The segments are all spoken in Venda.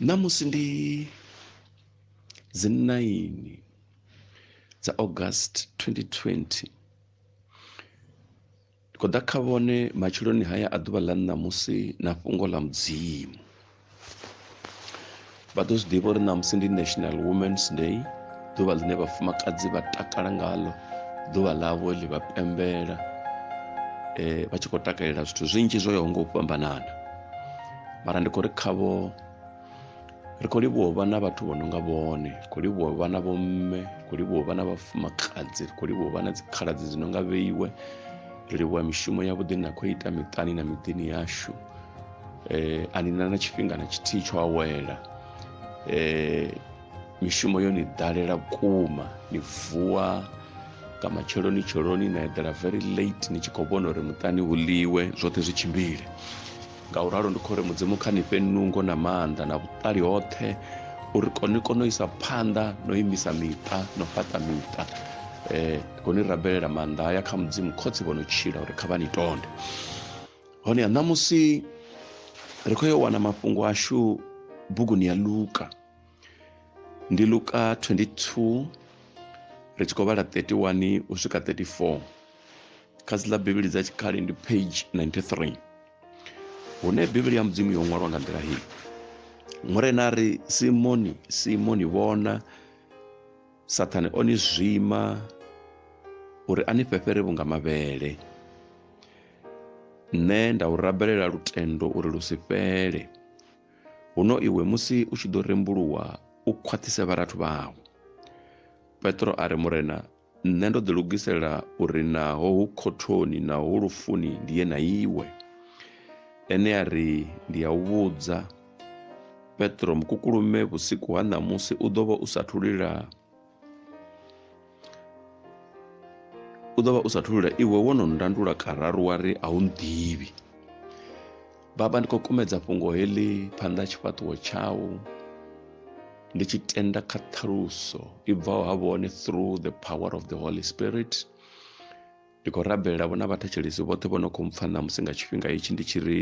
Ṋamusi ndi dzi 9 dza August 2020. Ndi khou ḓa kha vhone matsheloni haya a ḓuvha ḽa ṋamusi na fhungo ḽa Mudzimu. vha ḓo zwi ḓivha uri ṋamusi ndi national women's day ḓuvha ḽine vhafumakadzi vha takala ngaḽo ḓuvha ḽavho ḽi vha pembela um vha tshi khou takalela zwithu zwinzhi zwo yaho nga u fhambanana mara ndi khou ri khavho ri khou livhuwa u vha na vhathu vho no nga vhone ri khou livhuwa u vha na vhomme ri khou livhuwa u vha na vhafumakadzi ri khou livhuwa u vha na dzikhaladzi dzi no nga vheiwe ri livhuwa mishumo yavhuḓi na khou ita miṱani na miḓini yashu eh, a ni na na tshifhinga na tshithihi tsho awela eh, mishumo yo ni ḓalela vhukuma ni vuwa nga matsheloni tsheloni na eḓela very late ni tshi khou vhona uri muṱani hu ḽiwe zwoṱhe zwi tshimbile nga u ralo ndi khou ri mudzimu kha ni fhe nungo na maanḓa na vhuṱali hoṱhe uri ni kone u isa phanḓa no imisa miṱa no fhaṱa miṱa um eh, koni rabelela maanḓa haya kha mudzimu khotsi vho no tshila uri kha vha ni tonde hone ṋamusi ri khou yo wana mafhungo ashu buguni ya luka ndi luka 22 ri tshi khou vhala 31 u swika 34 kha dzi ḽa bivhili dza tshikale ndi page 93 hune bivhili ya mudzimu yo ṅwalwa nga nḓila hii murena ri simoni simoni vhona Saṱhane o ni zwima uri a ni fhefhere vhunga mavhele. Nṋe nda u rabelela lutendo uri lu si fhele. Huno iwe musi u tshi ḓo rembuluwa u khwaṱhise vharathu vhau. Petro a ri, Murena, nṋe ndo ḓilugisela uri naho hu khothoni naho hu lufuni ndi ye na iwe. Ene a ri, Ndi a u vhudza, Petro mukukulume vhusiku ha ṋamusi u ḓo vha u sa thulula u ḓo vha u sa thulula iwe wo no ndandula kararu wa ri a u nḓivhi baba ndi khou kumedza fhungo heḽi phanḓa tshifhaṱuwo tshau ndi tshi tenda kha ṱhaluso i bvaho ha vhone through the power of the holy spirit Ndi khou rabelela vhona vhathetshelesi vhoṱhe vho no khou mpfa ṋamusi nga tshifhinga hetshi ndi tshi ri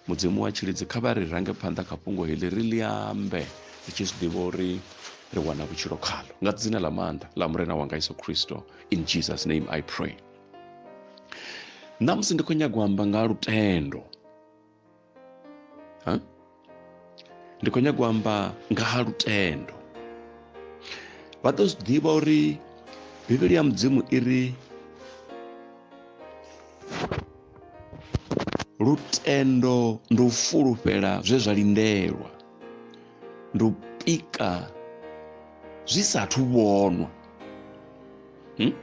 mudzimu wa tshilidzi kha vha ri range phanḓa kha fhungo heḽi ri ḽi ambe ri tshi zwi ḓivha uri ri wana vhutshilo khalo nga dzina ḽa maanḓa ḽa murena wanga iso khristo in jesus name i pray ṋamusi ndi khou nyagwa amba nga lutendo ha? ndi khou nyanga u amba nga ha lutendo vha ḓo zwi ḓivha uri bivhili ya mudzimu i ri lutendo ndi u fulufhela zwe zwa lindelwa ndi u pika zwi sathu vhonwa hmm?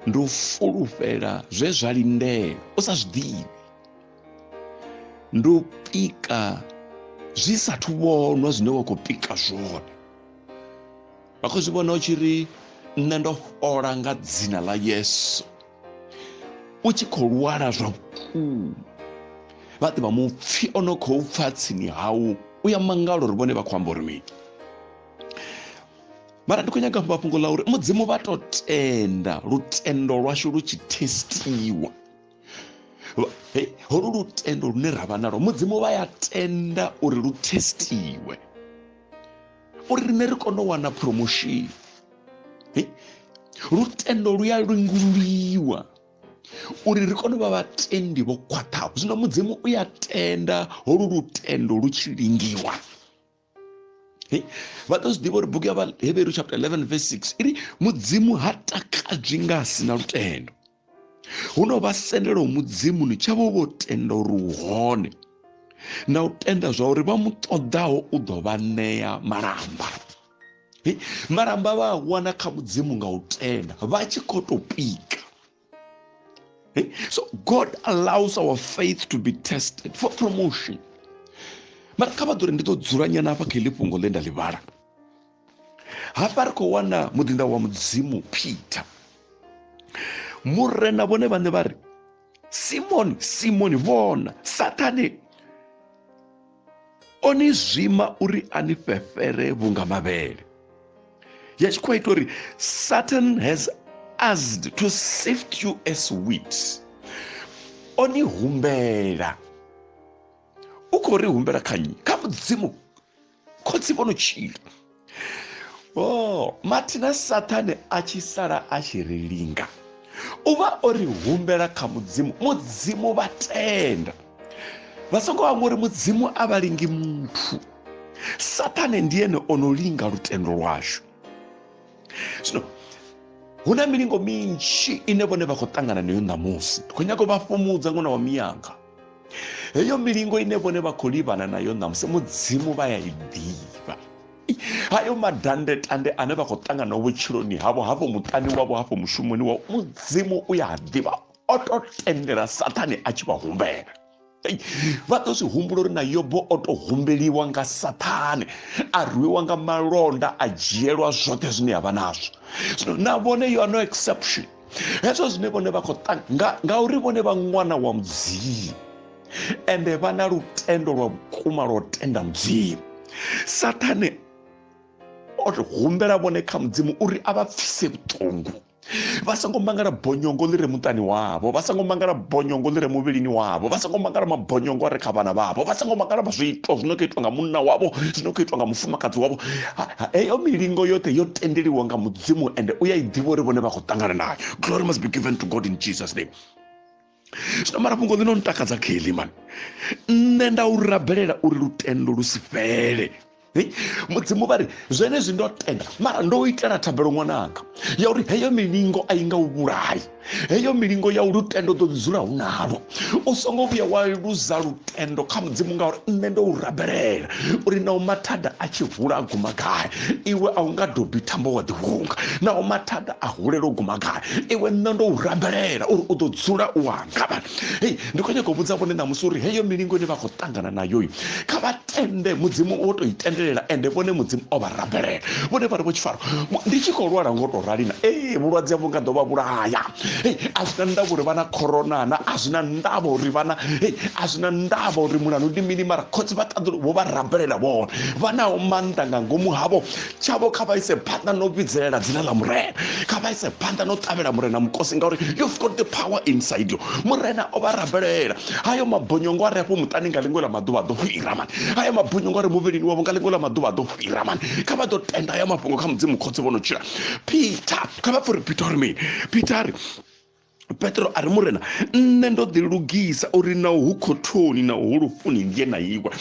ndi u fulufhela zwe zwa lindela u sa zwi ḓivhi ndi u pika zwi sathu vhonwa zwine wa khou pika zwone vha khou zwi vhona u tshi ri nṋe ndo fhola nga dzina ḽa yesu u tshi khou lwala zwa vhukuma vha ḓivha mupfi o no khou pfa tsini hau u ya mangalo uri vhone vha khou amba uri mini mara ndi khou nyaga fha fhungo ḽa uri mudzimu vha to tenda lutendo lwashu lu tshi testiwa holu lutendo lune ra vha nalo mudzimu vha ya tenda uri lu testiwe uri rine ri kone u wana promotion lutendo lu ya lingululiwa uri ri kone u vha vhatendi vho khwaṱhaho zwino mudzimu u ya tenda holu lutendo lu tshi lingiwa vha ḓo zwi ḓivha uri bugu ya vhaheberu chapter 11 verse 6 iri mudzimu ha takadzwi nga a si na lutendo huno vha sendela u mudzimu ni tshavho vho tenda uri u hone na u tenda zwa uri vha mu ṱoḓaho u ḓo vha ṋea malamba malamba vha a wana kha mudzimu nga u tenda vha tshi khou tou pika Eh? So God allows our faith to be tested for promotion. mara kha vha ḓo ri ndi ḓo dzula nyana hafha kha iḽi fhungo ḽe nda ḽi vhala hafha ri khou wana muḓinda wa mudzimu peter murena vhone vhaṋe vha ri simoni simoni vhona sathane o ni zwima uri a ni fhefhere vhunga mavhele ya tshi khou ita uri satan has asked to sift you as wheat o ni humbela u khou ri humbela kha nnyi kha mudzimu khotsi vho no tshila o oh, mathina sathane a tshi sala a tshi ri linga u vha o ri humbela kha mudzimu mudzimu vha tenda vha songo vha ngori mudzimu a vha lingi muthu sathane ndi ene o no linga lutendo lwashu zwino hu na milingo minzhi ine vhone vha khou ṱangana nayo ṋamusi ndi khou nyaka u vha fhumudza ṅwana wa miyanga heyo milingo ine vhone vha khou livhana nayo ṋamusi mudzimu vha ya i ḓivha hayo madandetande ane vha khou ṱangana vhutshiloni havho hafho muṱani wavho hafho mushumoni wavho mudzimu u ya ḓivha o to tendela sathane a tshi vha humbela vha ḓo zwi humbula uri na yobo o to humbeliwa nga sathane a rwiwa nga malonda a dzhielwa zwoṱhe zwine ya vha nazwo zwino na vhone yo no exception hezwo zwine vhone vha khou ṱanga ngauri vhone vha ṅwana wa mudzimu ende vha na lutendo lwa vhukuma lwa u tenda mudzimu sathane o humbela vhone kha mudzimu uri a vha pfise vhuṱungu vha songo mangala bonyongo ḽi re muṱani wavho vha songo mangala bonyongo ḽi re muvhilini wavho vha songo mangala mabonyongo a re kha vhana vhavho vha songo mangala zwiito zwino khou itwa nga munna wavho zwino khou itwa nga mufumakadzi wavho heyo milingo yoṱhe yo tendeliwa nga dzimu ende u ya i ḓivha uri vhone vha khou ṱangana nayo glory must be given to god in jesus name zwino mara fhungo ḽino ntakadza kelly mani nṋe nda u rabelela uri lutendo lu si fhele mudzimu vha ri zwenezwi ndo tenda mara ndo itela thabelo ṅwananga ya uri heyo milingo a i nga u vhulayi heyo milingo ya lutendo ḓo dzula hu nalo u songo vhuya wa luza lutendo kha mudzimu ngauri nṋe ndo u rabelela uri naho mathada a tshi hula a guma gai iwe a u nga dobi thambo wa ḓihunga naho mathada a hulela u guma gai iwe nṋe ndo u rabelela uri u ḓo dzula u anga hei ndi khou nyaka u vhudza vhone ṋamusi uri heyo milingo ine vha khou ṱangana nayo kha vha ende mudzimu wo to i tendelela ende vhone mudzimu o vha rambelela vhone vha ri vho tshifaro ndi tshi khou lwala ngo to rali na ee vhulwadze havho nga ḓo vha vhulaya a zwi na ndavha uri vha na corona na a zwi na ndavha uri vhana a zwi na ndavha uri mulanu ndi mini mara khotsi vha ṱaḓulu vho vha rambelela vhone vha naho maanḓa nga ngomu havho tshavho kha vha ise phanḓa no vhidzelela dzina ḽa murena kha vha ise phanḓa no ṱavhela murena mukosi ngauri you've got the power inside you murena o vha rabelela hayo mabonyongo a re afho muṱani nga ḽiṅwe ḽa maḓuvha a ḓo fhira mani hayo mabonyongo a re muvhilini wavho nga ḽiṅwe ḽa maḓuvha a ḓo fhira mani kha vha ḓo tenda hayo mafhungo kha mudzimu khotsi vho no tshila peter kha vha pfha uri peter uri mini peter ri petro a ri murena nṋe ndo ḓi lugisa uri na hu khothoni na hu lufuni nge na iwa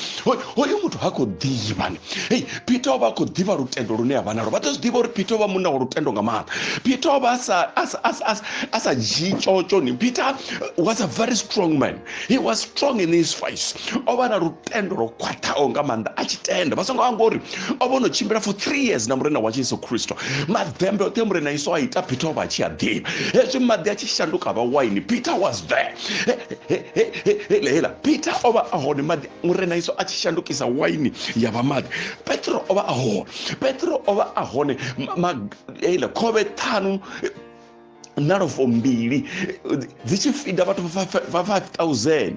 hoyu muthu ha khou ḓivha hei peter o vha a khou ḓivha lutendo lune a vha nalo vha ḓo zwi ḓivha uri peter o vha munna wa lutendo nga maanḓa peter o vha a sa dzhii tshotsho ni peter was a very strong man he was strong in his face o vha na lutendo lwo khwaṱhaho nga maanḓa a tshi tenda vha songo amba uri o vha no tshimbila for three years na murena wa jesu kristo maḓembe oṱhe murena iso a ita peter o vha a tshi a ḓivha hezwi maḓi a tshi shanduka vha waini peter was there hela hela peter o vha a hone maḓi murena iso a tshi shandukisa waini ya vha maḓi petro o vha a hone petro o vha a hone hela khovhe ṱhanu nalofo mbili dzi tshi fida vhathu vha 5000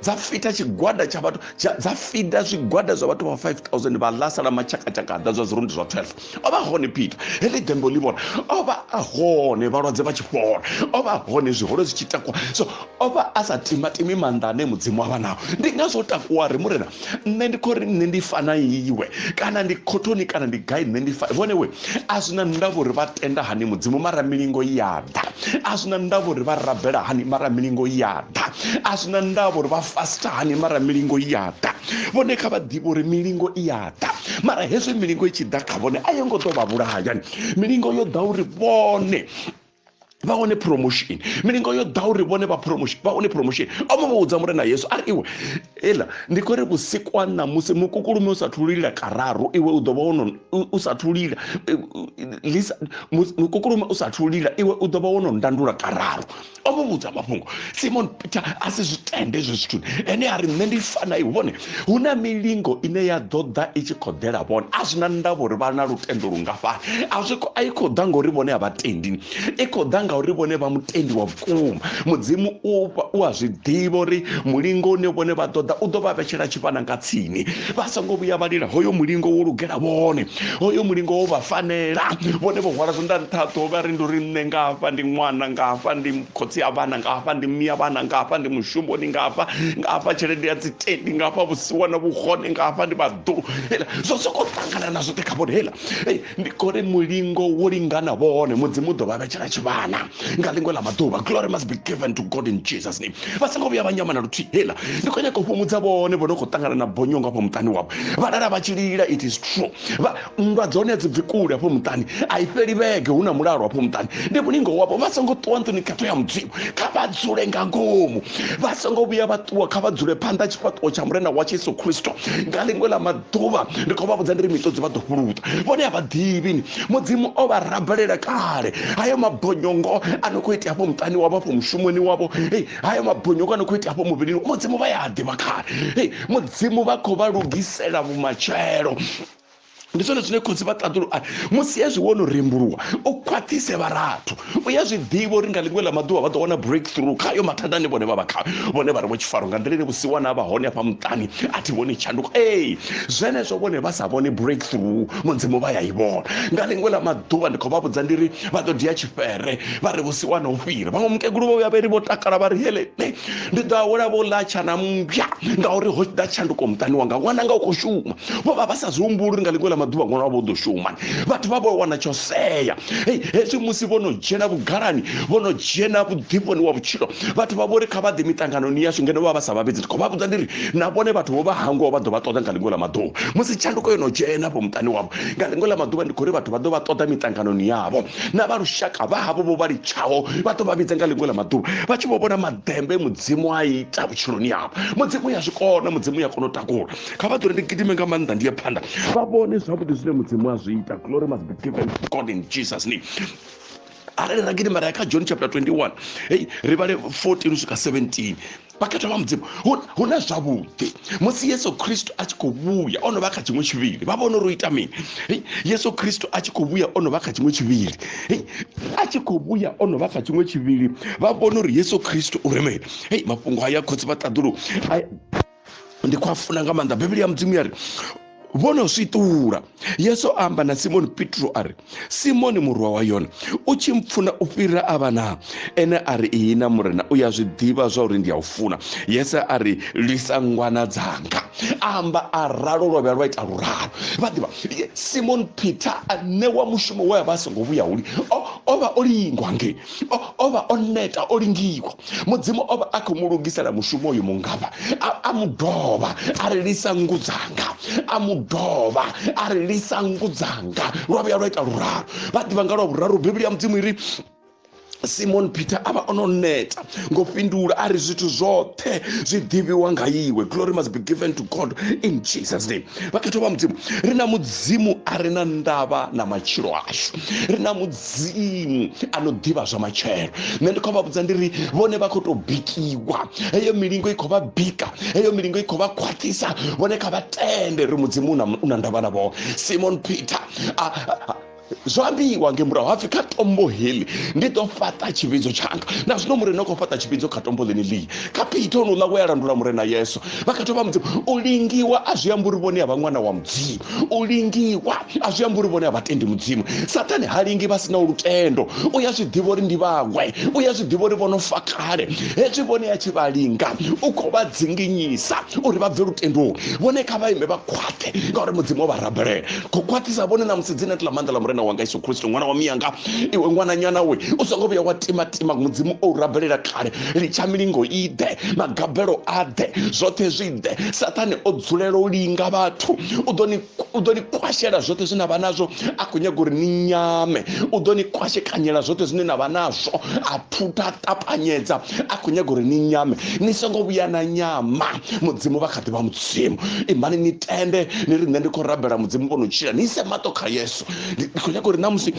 dza fita tshigwada tsha vhathu dza fida zwigwada zwa vhathu vha 5000 vha ḽa sala matshakatshaka ḓa zwa zwirundi zwa 12 o vha hone peter heḽi dembo ḽi vhona o vha a hone vhalwadze vha tshi fhola o vha hone zwiholo zwi tshi takwa so o vha a sa timatimi maanḓa ane mudzimu avha nao ndi nga zwo takuwa ri murena nṋe ndi khou ri nṋe ndi fana iwe kana ndi khothoni kana ndi gai nṋe ndi fana vhone we a zwi na ndavha uri vha tenda hani mudzimu mara milingo ya ḓa a zwi na ndavha uri vha rabela hani mara milingo ya ḓa a zwi na ndavha uri vha fasta hani mara milingo ya ḓa vhone kha vha ḓivhe uri milingo i ya ḓa mara hezwi milingo i tshi ḓa kha vhone a yo ngo ḓo vha vhulahayani milingo yo ḓa uri vhone vha wane promotion milingo yo ḓa uri vhone vha promotion vha wane promotion omo vha vhudza murena yesu ari iwe ela ndi khou ri vhusiku ha ṋamusi mukukulume u sa thululila kararu iwe u ḓo vha wono u sa thululila mukukulume u sa thululila iwe u ḓo vha wono ndandula kararu omo vhudza mafhungo simon peter a si zwi tende ezwo zwithu ene a ri nṋe ndi fana iwe vhone hu na milingo ine ya ḓo ḓa i tshi khou ḓela vhone a zwi na ndavha uri vha na lutendo lungafhani a zwi a i khou ḓa ngauri vhone a vha tendi i khou ḓa ngauri vhone vha mutendi wa vhukuma mudzimu u a zwi ḓivha uri mulingo une vhone vha ḓoḓa u ḓo vha vhetshela tshifhana nga tsini vha songo vhuya vha lila hoyo mulingo wo lugela vhone hoyo mulingo wo vha fanela vhone vho hwala zwanḓa nṱha ṱhoho vha ri ndi uri nṋe ngafha ndi ṅwana ngafha ndi khotsi ya vhana nga hafha ndi mia vhana nga hafha ndi mushumoni nga hafha nga hafha tshelede ya dzitendi nga hafha vhusiwa na vhuhone nga hafha ndi vhaḓulu hela zwo sokou ṱangana na zwoṱhe kha vhone hela ndi khori mulingo wo lingana vhone mudzimu u ḓo vha vhetshela tshivhana nga ḽiṅwe ḽa maḓuvha glory must be given to god in jesus name vha songo vhuya vha nyama na luthihi hela ndi khou nyaka u fhumudza vhone vho no khou ṱangana na bonyongo afha muṱani wavho vha lala vha tshi lila it is true nndwa dzone dzi bvi kule hafho muṱani a i fheli vhege hu na mulalo hafho muṱani ndi mulingo wavho vha songo ṱuwa nḓuni khetho ya mudzimu kha vha dzule nga ngomu vha songo vhuya vha ṱuwa kha vha dzule phanḓa tshifhaṱuwo tsha murena wa jesu khristo nga ḽiṅwe ḽa maḓuvha ndi khou vha vhudza ndi ri mitodzi vha ḓo fhuluta vhone a vha ḓivhini mudzimu o vha rabelela kale hayo mabonyongo a no khou itea hafho muṱani wavho hafho mushumoni wavho hei hayo mabonyongo a no khou itea hafho muvhilini mudzimu vha ya a ḓivha kale hei mudzimu vha khou vha lugisela vhumatshelo ndi zwone zwine khotsi vha ṱaḓulu a musi hezwi wo no rembuluwa u khwaṱhise vharathu u ya zwi ḓivha uri nga ḽiṅwe ḽa maḓuvha vha ḓo wana breakthrough khayo mathada ane vhone vha vha khayo vhone vha ri vho tshifaro nga nḓila ine vhusiwana vha hone afha muṱani a thi vhoni tshanduko ee zwenezwo vhone vha sa vhone breakthrough mudzimu vha ya i vhona nga ḽiṅwe ḽa maḓuvha ndi khou vha vhudza ndi ri vha ḓo dia tshifere vha ri vhusiwana u fhira vhaṅwe mukegulu vho vhuya vha ri vho takala vha ri hele ndi ḓo a hula vho latsha na mmbya ngauri ho ḓa tshanduko muṱani wanga ṅwana nga u khou shuma vho vha vha sa zwi humbuli uri nga ḽiṅwe ḽa maḓuvha ṅwana wavho u ḓo shuma vhathu vha vho wana tsho sea hei hezwi musi vho no dzhena vhugalani vho no dzhena vhuḓifhoni wa vhutshilo vhathu vha vho ri kha vha ḓe miṱanganoni yashu ngeno vha vha sa vhavhedzi ndi khou vha vhudza ndi ri na vhone vhathu vho vha hangwaho vha ḓo vha ṱoḓa nga ḽiṅwe ḽa maḓuvha musi tshanduko yo no dzhena vho muṱani wavho nga ḽiṅwe ḽa maḓuvha ndi khou ri vhathu vha ḓo vha ṱoḓa miṱanganoni yavho na vha lushaka vha havho vho vha litshaho vha ḓo vha vhidza nga ḽiṅwe ḽa maḓuvha vha tshi vho vhona maḓembe mudzimu a ita vhutshiloni yavho mudzimu ya zwi kona mudzimu ya kona u takula kha vha ḓure ndi gidime nga maanḓa ndi ye phanḓa vha vhone zwavhuḓi zwine mudzimu a zwi ita glory must be given to god in jesus name arali ra gidima ra ya kha john chapter 21 hey ri vhale 14 u swika 17 vhakhethwa vha mudzimu hu na zwavhuḓi musi yesu khristo a tshi khou vhuya o no vha kha tshiṅwe tshivhili vha vhona uri u ita mini yesu khristo a tshi khou vhuya o no vha kha tshiṅwe tshivhili a tshi khou vhuya o no vha kha tshiṅwe tshivhili vha vhona uri yesu khristo u ri mini hei mafhungo haya khotsi vha ṱaḓulu ndi khou a funa nga maanḓa bivhili ya mudzimu ya ri vho no swiṱula yesu a amba na simoni petro a ri simoni murwa wa yone u tshi mpfuna u fhira a vha naa ene a ri iyi na murena u ya zwi ḓivha zwa uri ndi a u funa yesu a ri lwisa ngwana dzanga amba a ralo lwa vhuya lwa ita luralo vha ḓivha simoni peter a ṋewa mushumo we a vha a songo vhuya huli o vha o lingwa ngei o vha o neta o lingiwa mudzimu o vha a khou mu lugisela mushumo uyu mungafha a mu dovha a ri lisa nngu dzanga a mu dovha a ri lisa nngu dzanga lwa vhuya lwa ita luralo vha ḓivha nga lwa vhuraru bivhili ya mudzimu iri simon peter a vha o no neta ngo fhindula a ri zwithu zwoṱhe zwi ḓivhiwa nga iwe glory must be given to god in jesus name vhakhetho vha mudzimu ri na mudzimu a re na ndavha na matshilo ashu ri na mudzimu a no ḓivha zwa matshelo nṋe ndi khou vha vhudza ndi ri vhone vha khou tou bikiwa heyo milingo i khou vha bika heyo milingo i khou vha khwaṱhisa vhone kha vha tende ri mudzimu u na ndavha na vhone simon peter a, a, a zwo ambiwa nge murahu hapfi kha tombo heḽi ndi ḓo fhaṱa tshivhidzo tshanga na zwino murena khou fhaṱa tshivhidzo kha tombo ḽene ḽii kha peter onoula we a landula murena yesu vha kha thoma mudzimu u lingiwa a zwi amba uri vhone a vha ṅwana wa mudzimu u lingiwa a zwi amba uri vhone a vha tendi mudzimu sathane ha lingi vha sina lutendo u ya zwi ḓivha uri ndi vhawe u ya zwi ḓivha uri vhono fa kale hezwi vhone a tshi vha linga u khou vha dzinginyisa uri vha bve lutendoni vhone kha vha ime vha khwaṱhe ngauri mudzimu o vha rabelela khou khwaṱhisa vhone na musi dzina ḽa maanḓa ḽa murena wanga yesu kristo ṅwana wa miyanga iwe ṅwananyana we u songo vhuya wa timatima mudzimu o u rabelela kale litsha milingo i ḓe magabelo a ḓe zwoṱhe zwi ḓe sathane o dzulela u linga vhathu u ḓo ni u ḓo ni kwashela zwoṱhe zwine vha nazwo a khou nyaga uri ni nyame u ḓo ni kwashekanyela zwoṱhe zwine na vha nazwo a phutha ṱapanyedza a khou nyaga uri ni nyame ni songo vhuya na nyama mudzimu vha kha ḓi vha mudzimu imani ni tende ni ri nṋe ndi khou rabela mudzimu vho no tshila ni ise maṱo kha yesu ndi khou nyaka uri na musi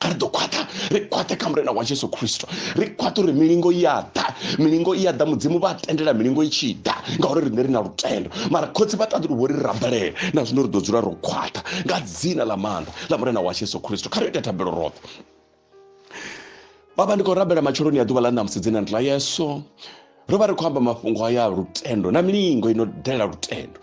a ri ḓo khwaṱha ri khwaṱhe kha murena wa jesu khristo ri khwaṱha uri milingo i a ḓa milingo i a ḓa mudzimu vha tendela milingo i tshi ḓa ngauri riṋe ri na lutendo mara khotsi vha ṱaḓulu vho ri rabelela na zwino ri ḓo dzula ro khwaṱha nga dzina ḽa maanḓa ḽa murena wa jesu khristo kha ri ite thabelo roṱhe vha vha ndi khou rabela matsheloni ya ḓuvha ḽa ṋamusi dzina ndi ḽa yeso ro vha ri khou amba mafhungo aya lutendo na milingo ino dalela lutendo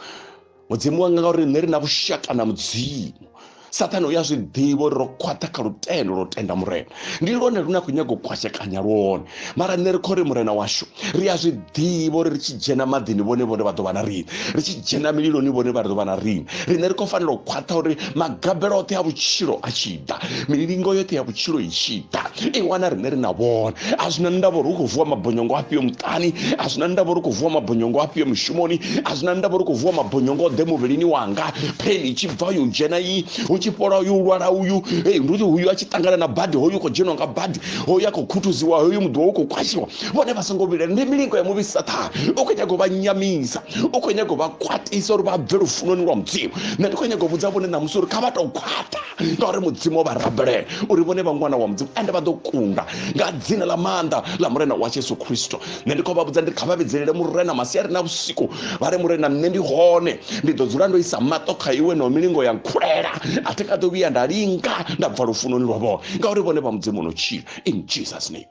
mudzimu wanga ngauri nṋe ri na vhushaka na mudzimu sathane u ya zwi ḓivha uri ro khwaṱha kha lutendo lwo tenda murena ndi lwone lune a khou nyaga u kwashekanya lwone mara nṋe ri kho ri murena washu ri a zwi ḓivha uri ri tshi dzhena maḓini vhone vhone vha ḓo vha na rini ri tshi dzhena mililoni vhone vha ri ḓo vha na rini riṋe ri khou fanela u khwaṱha uri magabelo oṱhe a vhutshilo a tshi ḓa milingo yoṱhe ya vhutshilo i tshi ḓa i wana riṋe ri na vhone a zwi na ndavha uri u khou vuwa mabonyongo afhio muṱani a zwi na ndavha uri u khou vuwa mabonyongo afhio mushumoni a zwi na ndavha uri u khou vuwa mabonyongo ḓe muvhilini wanga pheni i tshi bva yo dzhena iyi hu tshi fhola uyu lwala uyu hey ndi uyu a tshi ṱangana na badi hoyu khou dzhenwa nga badi ho ya khou khuthuziwa hoyu muḓi wa u khou kwashiwa vhone vha songo vhilela ndi milingo ya muvhi sathana u khou nyaga u vha nyamisa u khou nyaga u vha khwaṱisa uri vha bve lufunoni lwa mudzimu nṋe ndi khou nyaga u vhudza vhone ṋamusi uri kha vha tou khwaṱha ngauri mudzimu o vha rabelela uri vhone vha ṅwana wa mudzimu ende vha ḓo kunda nga dzina ḽa maanḓa ḽa murena washu yesu khristo nṋe ndi khou vha vhudza ndi kha vha vhidzelele murena masiari na vhusiku vha ri murena nṋe ndi hone ndi ḓo dzula ndo isa maṱo kha iwe na milingo ya nkhulela a thi kha ḓo vhuya nda linga nda bva lufunoni lwavho ngauri vhone vha mudzimu no tshila in jesus name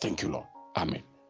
thank you lord amen